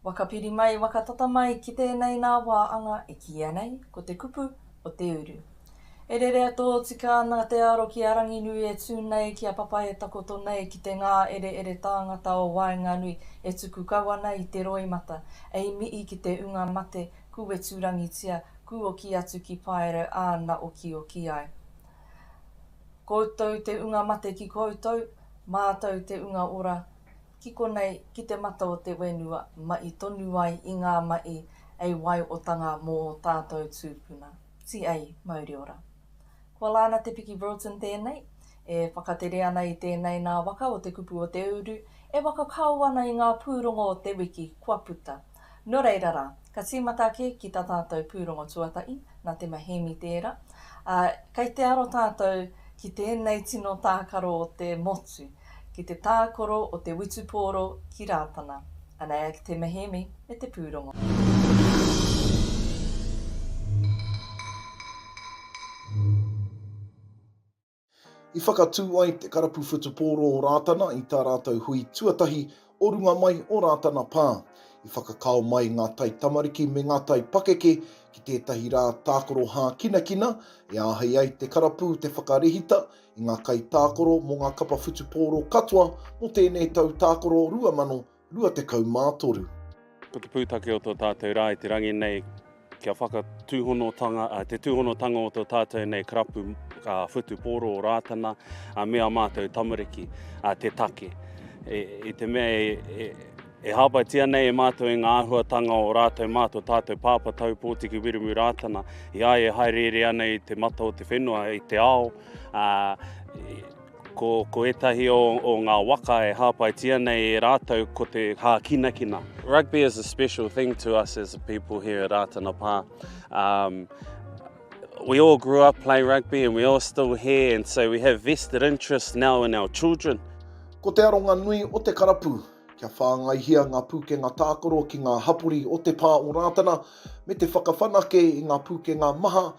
Waka piri mai, waka tata mai ki tēnei nā wā anga e kīia nei, ko te kupu o te uru. E rerea tōtika ana te aro ki a Ranginui e tū nei ki a Papa e takoto nei ki te ngā ereere tāngata o waenganui e tuku kau ana i te roimata, ei mihi ki te unga mate, kūweturangitia, kūoki atu ki Paerau ā na okioki ai. Koutou te unga mate ki koutou, mātou te unga ora ki konei ki te mata o te whenua maʻi tonu ai i ngā maʻi a waiotanga mō tātou tūpuna. T.A. Mauri ora. Kua Lana Te Piki Broughton tēnei, e whakatere ana i tēnei nā waka o te kupu o te uru e waka kāo ana i ngā pūrongo o te wiki kua puta. Nō reira rā, ka tīmata ake ki tā tātou pūrongo tuatahi, nā Te Mahēmi tērā, ā, kei te aro tātou ki tēnei tino tākaro o te motu, ki te tākoro o te witupōro ki Rātana. Anei a Te Mahēmi me te pūrongo. I whakatū ai te karapu whutupōro o Rātana i tā rātou hui tuatahi o runga mai o Rātana Pā. I whakakao mai ngā taitamariki me ngā taipakeke ki tētahi rā tākaro hākinakina e āhei ai te karapu te whakarehita i ngā kaitākaro mō ngā kapa whutupōro katoa mō tēnei tau tākaro 2020. 23. Ko te pūtake o tō tātou rā i te rangi nei, kia whakatūhonotanga, te tūhonotanga o tō tātou nei karapu whutupōro o Rātana, me a mātou tamariki, te take. E, I te mea e, e, e hāpaitia nei e mātou i ngā āhuatanga o rātou mā tō tātou pāpa tau pōtiki wiremu Rātana, i ai e haereere ana i te mata o te whenua, i te ao, ā, Ko, ko ētahi o, o ngā waka e hāpaitia nei e rātou ko te hākinakina. Rugby is a special thing to us as a people here at Rātana Pā. Um, we all grew up playing rugby and we all still here and so we have vested interest now in our children. Ko te aronga nui o te karapu, kia whāngaihia ngā pūkenga tākaro ki ngā hapori o te pā o Rātana me te whakawhanake i ngā pūkenga maha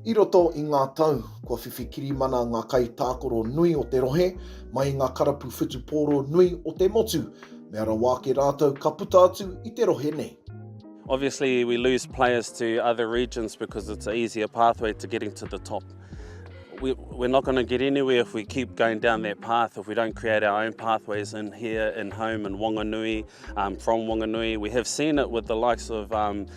I roto i ngā tau, kua whiwhi kirimana ngā kaitākoro nui o te rohe mai i ngā karapu whutupōro nui o te motu, mea rawa ake rātou ka puta atu i te rohe nei. Obviously we lose players to other regions because it's an easier pathway to getting to the top. We, we're not going to get anywhere if we keep going down that path, if we don't create our own pathways in here, in home, in Wanganui, um, from Wanganui. We have seen it with the likes of um,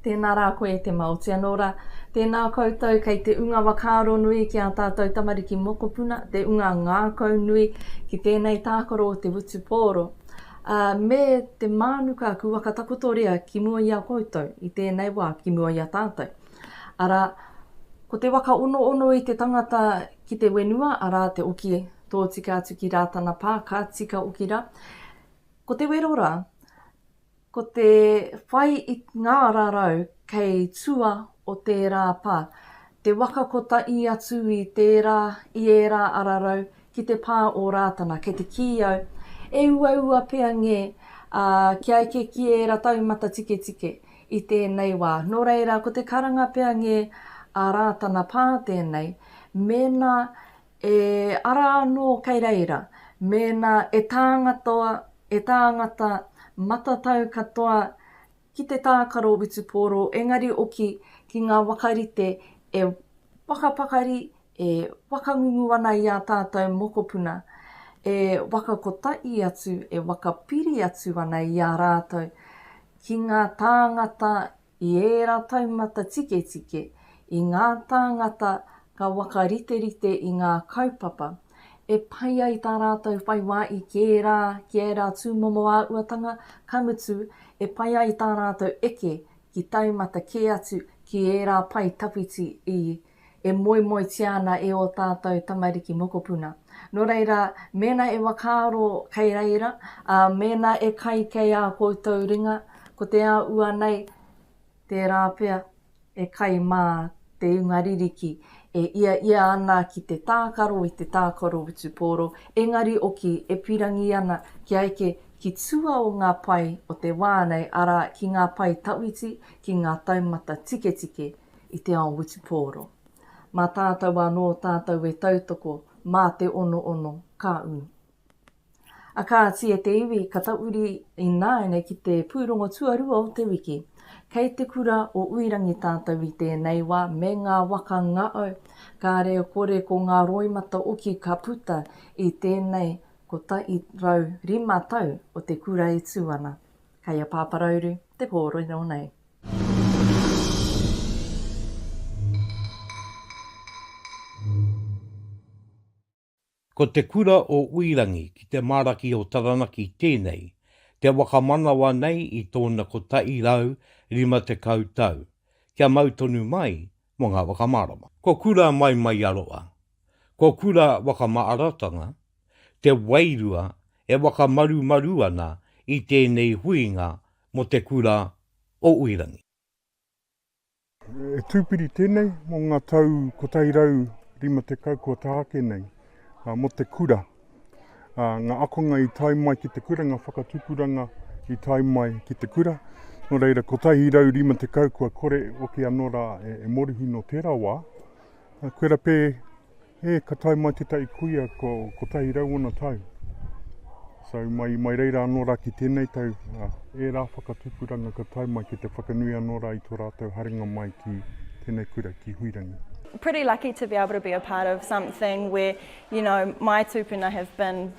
Tēnā rā koe e te Maoti anō rā. Tēnā koutou kei te unga wakaaro nui ki ā tātou tamariki mokopuna, te unga ngākau nui ki tēnei tākaro o te wutupōro. Ā, me te mānuka kua ka takotoria ki mua i a koutou, i tēnei wā, ki mua i a tātou. Arā, ko te waka onoono i te tangata ki te wenua, arā, te oki Tōtika atu ki Rātana Pā, ka tika oki rā. Ko te wero rā, ko te whai i ngā rarau kei tua o tērā pā, te waka kotahi atu i tērā, i ērā ararau ki te pā o Rātana, kei te kī au, e uaua pea ngē, ā, kia eke ki ērā taumata tiketike i tēnei wā. Nō reira, ko te karanga pea ngē a Rātana Pā tēnei, mēnā E ara anō kei reira, mēnā e tāngatoa, e tāngata matatau katoa ki te tākaro witupōro, engari oki ki ngā wakarite e whakapakari, e whakangungu ana i ā tātou mokopuna, e whakakotahi atu, e whakapiri atu ana i a rātou ki ngā tāngata I ērā taumata tiketike, i ngā tāngata ka whakariterite i ngā kaupapa, e pai ai tā rātou whai wā i kē rā ki ērā tūmomo āhuatanga, ka mutu, e pai ai tā rātou eke ki taumata kē atu ki ērā pae tawhiti i e moemoetia ana e ō tātou tamariki mokopuna. Nō reira, mēnā e whakaaro kei reira, ā, mēnā e kai kei ā koutou ringa, ko te āhua nei, tērā pea, e kai mā te inga ririki e iaia ana ki te tākaro i te tākaro witupōro, engari oki e pirangi ana kia eke ki tua o ngā pae o te wā nei, arā, ki ngā pae tawhiti, ki ngā taumata tiketike, i te ao witupōro. Mā tātou anō tātou e tautoko mā te onoono ka ū. A kāti e te iwi ka tauri ināianei ki te pūrongo tuarua o te wiki. Kei te kura o Uirangi tātou i tēnei wā me ngā waka ngaau, kāre e kore ko ngā roimata oki ka puta i tēnei 105 tau o te kura e tū ana. Kei a Pāparauru te kōrero nei. Ko Te Kura o Uirangi ki te Maraki o Taranaki tēnei, te waka manawa nei i tōna kotahi rau rima tekau tau, kia mau tonu mai mō ngā whakamārama. Ko Kura Maimaiaroa, ko Kura Wakamaaratanga te wairua e wakamarumaru ana i tēnei huinga Mo te kura o Uirangi. E Tūpiri tēnei mo ngā tau 150 kua taha ake nei, mo te kura. Ngā akonga i tae mai ki te kura, ngā whakatupuranga i tae mai ki te kura. Nō reira, 150 kua kore oke anō rā e morihi nō tērā wā. Kua rape E, ka tae mai te taʻi kuia ko kotahi rau ona tau. So, mai, mai reira anō rā ki tēnei tau, uh, e rā whakatupuranga ka tae mai ki te whakanui anō rā i tō rātou haringa mai ki tēnei kura, ki Huirangi. Pretty lucky to be able to be a part of something where, you know, my tūpuna have been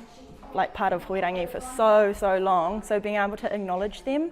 like part of Huirangi for so, so long, so being able to acknowledge them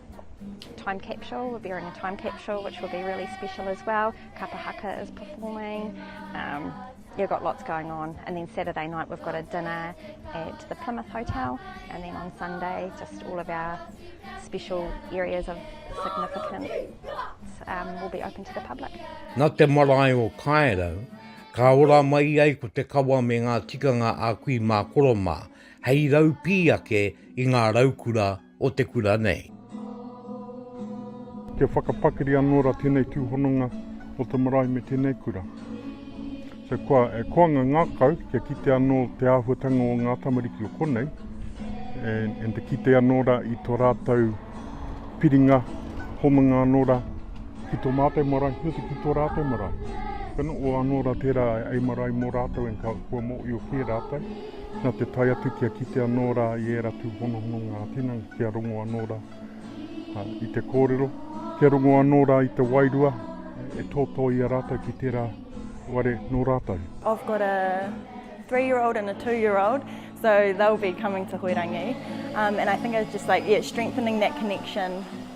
Time capsule, we're bearing a time capsule which will be really special as well. Kapa Haka is performing. Um, you've got lots going on. And then Saturday night we've got a dinner at the Plymouth Hotel, and then on Sunday just all of our special areas of significance um, will be open to the public. Na te marae o Kaerau, ka ora mai ai ko te kawa me ngā tikanga a kui mā koromā, hei rau pī ake i ngā raukura o te kura nei. Kia whakapakari anō rā tēnei tūhononga o te marae me tēnei kura. So kua e koanga ngākau kia kite anō te āhuatanga o ngā tamariki o konei, and, and te kite anō rā i tō rātou piringa homanga anō rā ki tō mātou marae, me te ki tō rātou marae. Kana o anō rā tērā ai marae mō rātou and ka kua mōio kē rātou. Nā te tae atu kia kite anō rā i ērā tūhonohononga ā-tinana, kia rongo anō rā i te kōrero, kia rongo anō rā i te wairua e tōtō i a rātou ki tērā ware nō rātou. I've got a three year old and a two year old, so they'll be coming to Hoerangi. Um, and I think it's just like, yeah, strengthening that connection.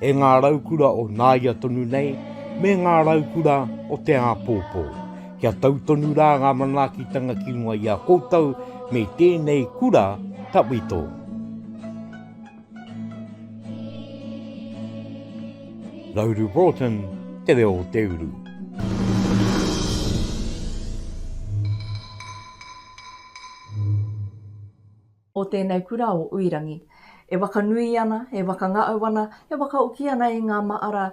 E ngā raukura o nāia tonu nei, me ngā raukura o te āpōpō, kia tau tonu rā ngā manaakitanga ki runga i a koutou me tēnei kura tawhito. Nauru Broughton, Te Reo o Te Uru. o tēnei kura o Uirangi. E wakanui ana, e wakangaau ana, e wakaoki ana i ngā maara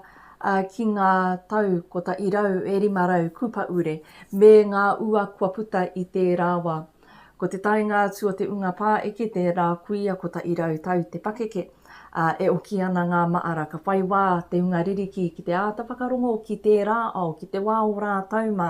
ki ngā tau kotahi rau e rima rau kupaure me ngā ua kua puta i tērā wa. Ko te taenga atu o te unga pāeke tērā kuia kotahi rau tau te pakeke. ā, e oki ana ngā māra ka whai wā te hunga ririki ki te āta whakarongo ki tērā ao, ki te wā o rātou mā,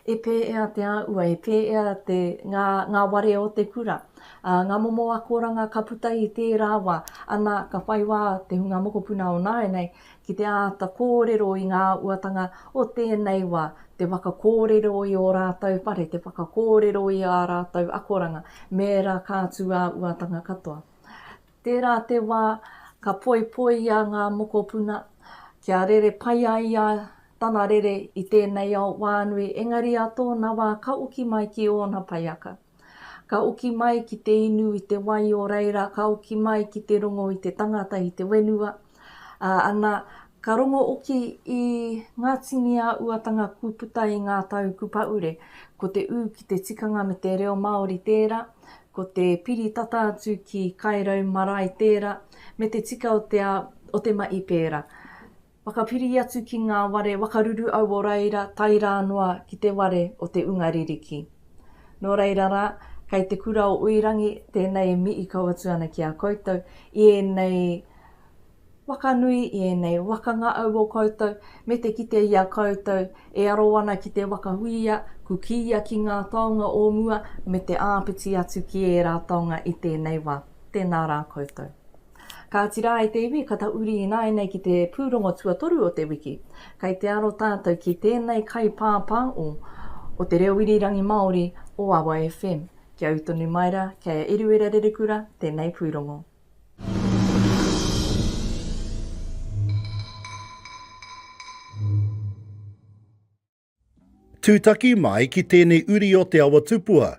e pēea te āhua, e pēea te, ngā, ngā ware o te kura, ā, ngā momo akoranga ka puta i tērā wā, ana, ka whai wā te hunga mokopuna o nāianei ki te āta kōrero i ngā uatanga o tēnei wā, te waka kōrero i ō rātou whare, te whakakōrero i ā rātou akoranga, me ērā kātū ā-uatanga katoa. Tērā te wā ka poipoia ngā mokopuna kia rere pai ai ia tana rere i tēnei ao wānui engari ā tōna wā ka uki mai ki ōna paiaka. Ka uki mai ki te inu i te wai o reira ka uki mai ki te rongo i te tangata i te whenua, Ā, ana, ka rongo oki i ngā tini āuatanga kua puta i ngā tau kupaure, ko te ū ki te tikanga me te reo Māori tērā, ko te piri tata atu ki Kairau marae tērā, me te tika o te o te maʻi pērā. Whakapiri atu ki ngā ware wakaruru au o reira tae rā noa ki te ware o te unga ririki. Nō reira rā, kei te kura o Uirangi tēnei e mihi kau atu ana ki a koutou i ēnei wakanui i ēnei waka ngā au o koutou me te kite i a koutou e aro ana ki te waka huia, kukiia ki ngā taonga o mua me te āpiti atu ki ērā taonga i tēnei wā. Tēnā rā koutou. Kāti rā e te iwi, ka ta uri ināianei ki te pūrongo tuatoru o te wiki. Kei te aro tātou ki tēnei kaipāpāo o te reo irirangi Māori o AwaFm. Kia ū tonu mai rā, kei a Eruera Rerekura tēnei pūrongo. Tūtaki mai ki tēnei uri o Te Awa Tupua,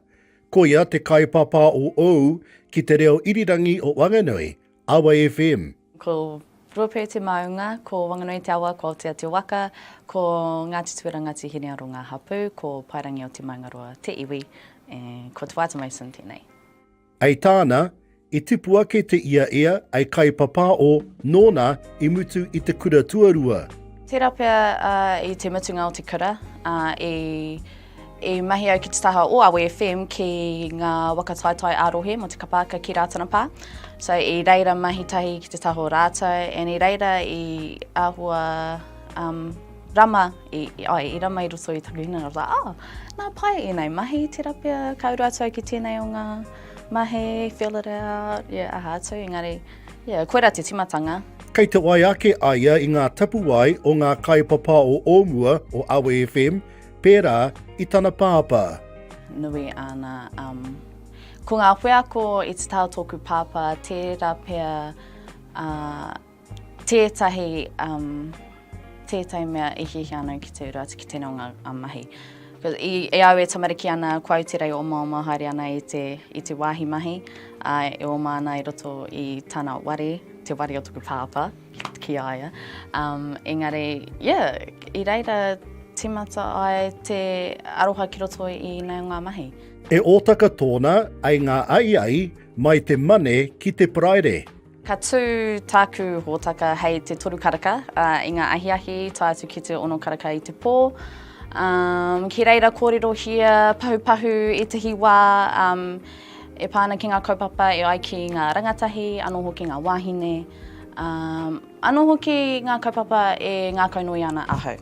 koia te kaipāpā o ou ki te reo irirangi o Wanganui, Awa FM. Ko Ruapē te maunga, ko Wanganui te awa, ko Aotea te waka, ko Ngāti Tuera, Ngāti Hinearo ngā hapū, ko Paerangi o Te Maungaroa te iwi, ko Te Whātua Mason tēnei. Ei tāna, i tipu ake te ia ea, ei kaipapāo, nōna i mutu i te kura tuarua. Tērā pea i te mutunga o te kura, i, i mahi au ki te taha o Awe FM ki ngā waka taetae ā-rohe mō Te Kapa aka ki Rātana Pā. So, i reira mahi tahi ki te taha o rātou, and i reira i āhua, um, Rama, i, ai, i rama i roto i taku hinengaro, tā, oh, nā pai ēnei mahi, tērā pea, ka uru atu au ki tēnei o ngā mahi, fill it out, yeah, aha atu, engari, yeah, koirā te timatanga. Kei te wai ake a ia i ngā tapuwae o ngā kaipapa o o mua o Awe FM, pērā i tana pāpā. Nui āna, um, ko ngā wheako i te tao tōku pāpā, tērā pea, uh, Tētahi, um, tētahi mea i hiahia ana ki te uru atu ki tēnei o ngā um, mahi. I, e au e tamariki ana, kua au te rei oma oma haere ana i te, i te wāhi mahi, a, e oma ana i roto i tana ware, te ware o taku pāpā, ki a ia. Um, engari, yeah, i reira timata ai te aroha ki roto i nei o ngā mahi. E Ōtaka tōna, ai ngā ai ai, mai te Mane ki te Paraire. Ka tū tāku hōtaka hei te toru karaka i ngā ahiahi, tae atu ki te ono karaka i te pō. Um, ki reira kōrerohia pahupahu ētahi wā um, e pā ana ki ngā kaupapa e ai ki ngā rangatahi, anō hoki ngā wāhine, um, anō hoki ngā kaupapa e ngākaunui ana ahau.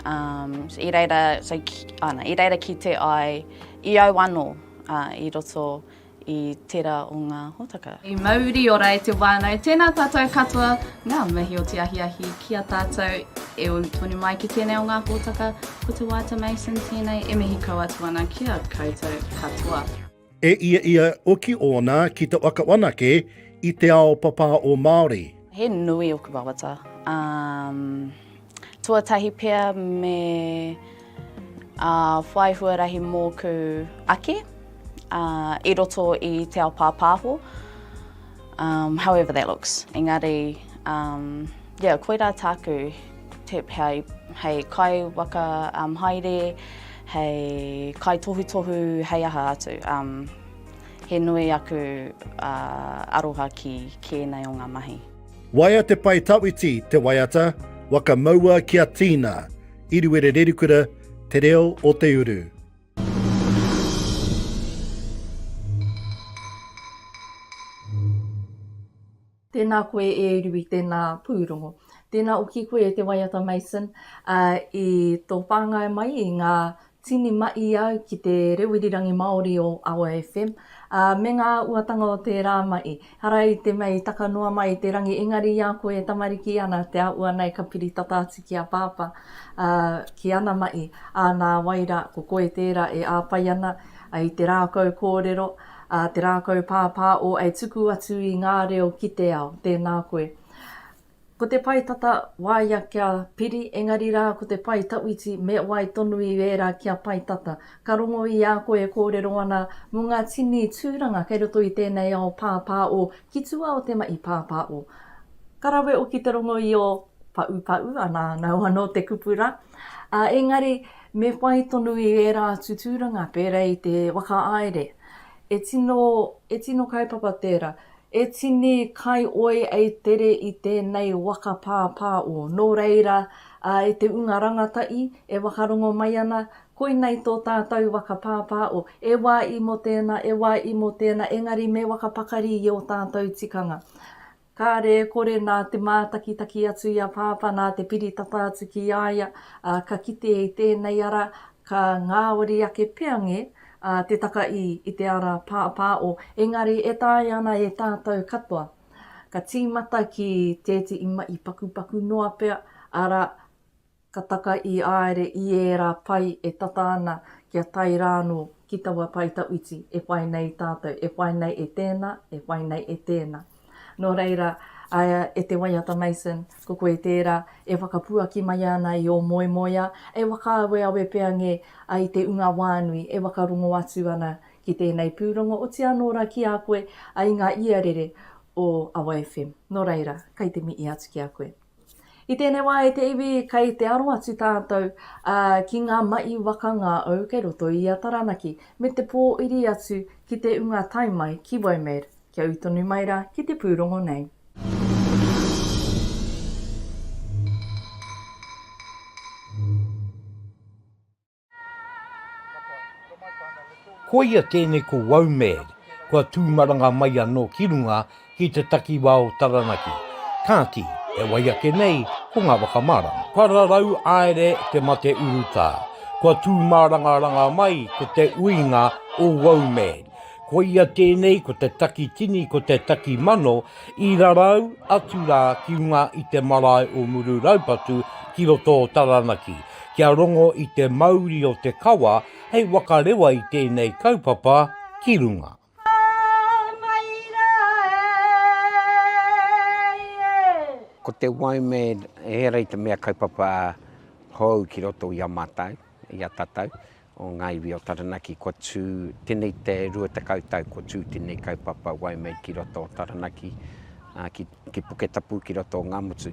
Um, so, i, reira, so, ki, ana, i reira ki te ai i au anō uh, i roto i tera o nga hotaka. I mauri ora e te wānau, tēnā tātou katoa ngā mihi o te ahiahi ki a tātou e uru tonu mai ki tēnei o ngā hōtaka, ko Te Waata Mason tēnei e mihi kau atu ana ki a koutou katoa. E ia ia oki ōna ki te waka wanake i te ao papā o Māori. He nui oku wawata, umm. Tuatahi pea me whai huarahi mōku ake i roto i te ao pāpāho. However that looks, engari yeah, koirā tāku hei kai waka haere, hei kai tohutohu, hei aha atu. He nui aku aroha ki kēnei o ngā mahi. Waea te Pae Tawhiti, Te Waiata, Waka Maua ki a Tina, Iriwere Rerikura, Te Reo o te Uru. Tēnā koe e Iriwi, tēnā pūrongo. Tēnā oki koe e Te Waiata Mason i tō whāngai mai i ngā Tini maʻi au ki te rewirirangi Māori o Awa FM, ā, me ngā uatanga o tērā maʻi. Ara i te mea i taka noa mai i te rangi, engari i a koe e tamariki ana, te āhua nei ka piri tata atu ki a Pāpā, ā, ki ana maʻi, ā, nā wai rā, ko koe tērā e āwhai ana i te rākau kōrero, ā, te rākau pāpāo e tuku atu i ngā reo ki te ao. Tēnā koe. Ko te pae tata, waia kia piri, engari rā, ko te pae tawhiti, me wai tonu i ērā kia pae tata. Ka rongo i a koe e kōrero ana mō ngā tini tūranga kei roto i tēnei ao pāpāo ki tua o te mahi pāpāo. Ka rawe hoki te rongo i ō paʻupaʻu, anā, nau anō te kupu rā. Ā, engari, me whai tonu i ērā atu tūranga pērā i te whakaaere. E tino, e tino kaupapa tērā. E tini kai oi ei tere i tenei waka pāpā o. No reira, a e te unga rangata'i, e whakarongo mai ana, koinei to tātou waka pāpā o, e wa i mo tena, e wa i mo tena, engari me whakapakari i o tātou tikanga. Kare e kore na te mātakitaki atu i a pāpā na te piri tata atu ki a ia, a ka kite i tenei ara, ka ngawari ake pea nge, a Te Takaī i te ara pāpāo, engari e taea ana e tātou katoa. Ka tīmata ki tētehi mahi pakupaku noa pea, arā, ka taka i āere i ērā pai e tata ana kia tae rānō ki taua pae tawhiti e whai nei tātou, e whai nei e tēnā, e whai nei e tēnā. Nō reira, e te waiata Mason, ko koe tērā e whakapuaki mai ana i ō moemoeā, e whakaaweawe pea ngē ai te unga wānui e whakarongo atu ana ki tēnei pūrongo, oti anō rā ki a koe, i ngā iarere o Awa FM. Nō reira, kai te mihi atu ki a koe. I tēnei wā e te iwi, kei te aro atu tātou ki ngā mahi waka ngāau kei roto i a Taranaki, me te pōiri atu ki te unga tae mai ki Waimed, kia ū tonu mai rā ki te pūrongo nei. Koia tēnei ko Waumēd, kua tūmaranga mai anō ki runga ki te takiwā o Taranaki, kāti, e wai ake nei ko ngā whakamārama. Pararau Aere te mate urutā, kua tūmārangaranga mai ko te uinga o Waumēd. Koia tēnei ko te taki tini ko te taki mano I rarau atu rā ki runga i te marae o Muru-raupatu ki roto o Taranaki, kia rongo i te mauri o te kawa hei wakarewa i tēnei kaupapa ki runga. Ko te Waimed, ehara i te mea kaupapa hou ki roto i a mātou, i a tātou, o ngā iwi o Taranaki kua tū tenei te rua tekau tau kua tū tenei kaupapa Waimate ki roto o Taranaki a, ki, ki Puketapu ki roto o Ngamutu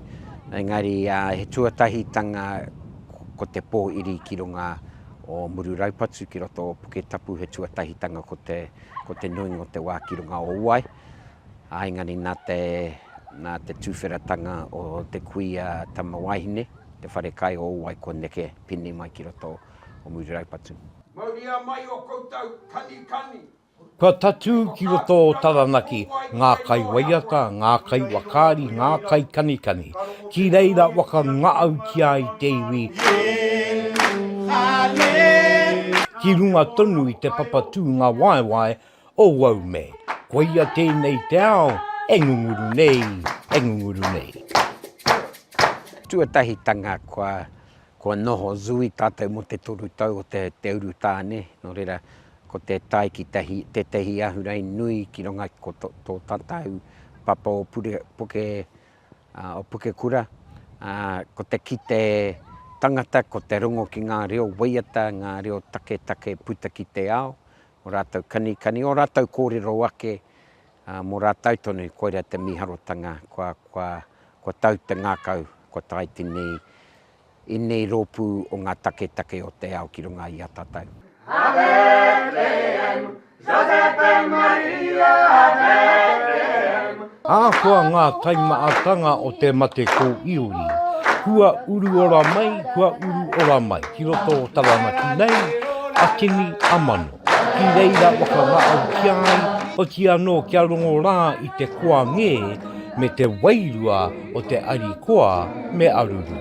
engari a, he tuatahitanga ko te pō iri ki runga o Mururaupatu ki roto o Puketapu he tuatahitanga ko te, ko te nuinga o te wā ki runga o Uai a, engari nā te, nā te tūwheratanga o te kuia tama wāhine te wharekai o Uai kua neke pēnei mai ki roto o Muri Raupatu. Mauria mai o koutou kanikani. Kua tatū ki roto o Taranaki ngā kai waiata, ngā kai wakaari, ngā kai kanikani. Ki reira waka ngaautia i te iwi. Ki runga tonu i te papa tūnga waewae o Waumed. Koia tēnei te ao e ngunguru nei, e ngunguru nei. Tuatahitanga kua Kua noho Zui tātou mō te toru tau o te te urutāne, nō reira, ko te tae ki tahi, tētehi ahurei nui ki runga i ko tō, tō tātou papa o pure, puke, uh, o Pukekura, uh, ko te kite tangata, ko te rongo ki ngā reo waiata, ngā reo taketake puta ki te ao, o rātou kanikani, o rātou kōrero ake, Mō rātou tonu, koirā te mīharotanga, kua tau te ngākau, kua tae tenei, ēnei rōpū o ngā taketake o te ao ki runga i a tātou. Ave Requiem, Giuseppe Maria, Ave Requiem. Ahakoa ngā taimaatanga o te mate kōiori, kua uru ora mai, kua uru ora mai ki roto o Taranaki nei, a Timi, a Mano. Ki reira whakangao ki a ia, oti anō kia rongo rā i te koa ngē me te wairua o te ari koa me aruru.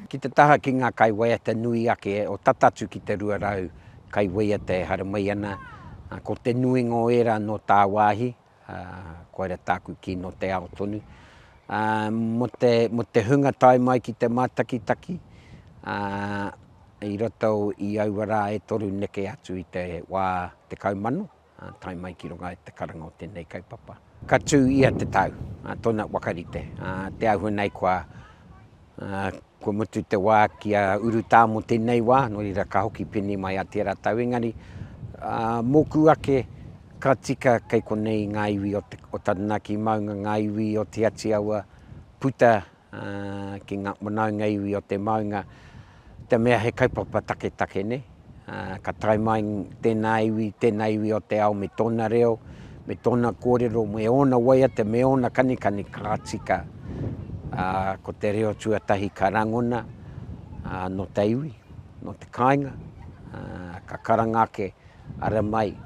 Ki te taha ki ngā kaiwaiata nui ake o tata atu ki te 200 kaiwaiata e haramai ana, ko te nuinga o ērā nō tāwāhi, Ā, koira tāku kī nō te ao tonu. Ā, mō te, mō te hunga tae mai ki te mātakitaki, ā, i roto i aua rā e toru neke atu i te wā tekau mano, ā, tae mai ki runga i te karanga o tēnei kaupapa. Ka tū ia te tau, ā, tōna wakarite, ā, te āhua nei kua. Ā, kua mutu te wā ki a urutā mō tēnei wā, nō reira ka hoki pēnei mai a tērā tau engari, ā, mōku ake ka tika kei konei ngā iwi o te, o Taranaki maunga, ngā iwi o Te Ati Awa puta, ā, ki ngā whanaunga iwi o te maunga, te mea he kaupapa taketake, nē. Ka tae mai tēnā iwi, tēnā iwi o te ao me tōna reo, me tōna kōrero, me ōna waiata, me ōna kanikani ka tika. Ko te reo tuatahi ka rangona nō te iwi, nō te kāinga, ka karanga ake, ara mai,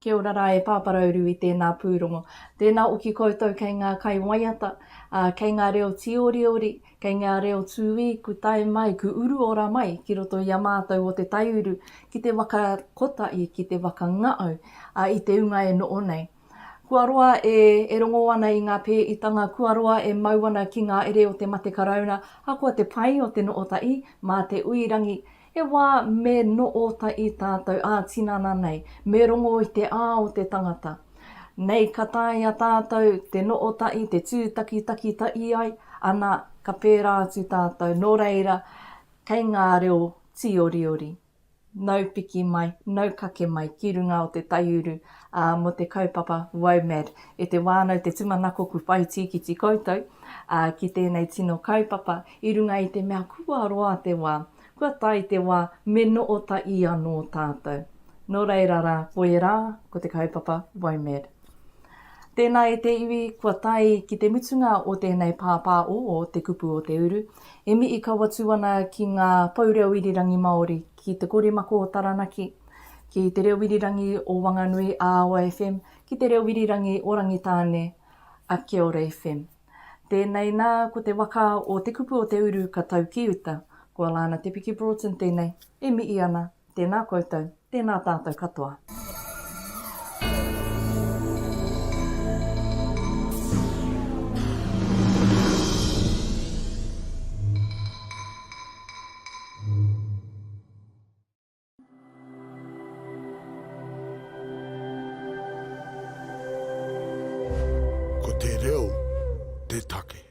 Kia ora ra e Pāpā Rauru i tēnā pūrongo. Tēnā hoki koutou kei ngā kai waiata, ā, kei ngā reo tīoriori, kei ngā reo tūī ku tae mai, ku uru ora mai ki roto i a mātou o Te Taiuru ki te waka kotahi, ki te waka ngaau, ā, i te unga e noho nei. Kua roa e, e rongo ana i ngā pēitanga, kua roa e mau ana ki ngā ere o te mate karauna, ahakoa te pai o te noho tahi, mā te ui rangi, He wā me noota i tātou ā-tinana nei, me rongo i te ā o te tangata. Nei ka taea tātou te noota i te tūtakitaki ta i ai, ana ka pērā atu tātou, nō reira, kei ngā reo tīoriori, nau piki mai, nau kake mai ki runga o te taiuru, ā, mō te kaupapa WOMAD. E te wānau, te tumanakoku whai tīkiti koutou, ā, ki tēnei tino kaupapa, I runga i te mea kua roa te wā, kua tae te wā me noho tahi anō tātou. Nō reira rā, ko ērā, ko te kaupapa WOMED. Tēnā e te iwi, kua tae ki te mutunga o tēnei pāpā o Te Kupu o Te Uru, e mihi kau atu ana ki ngā pou reo irirangi Māori, ki Te Korimako o Taranaki, ki Te Reo Irirangi o Wanganui a Awa FM, ki Te Reo Irirangi o Rangitāne a Kiora FM. Tēnei nā, ko te waka o Te Kupu o Te Uru ka tau ki uta. Ko Alana Te Piki Broughton tēnei, e mihi ana, tēnā koutou, tēnā tātou katoa. Ko te reo te take.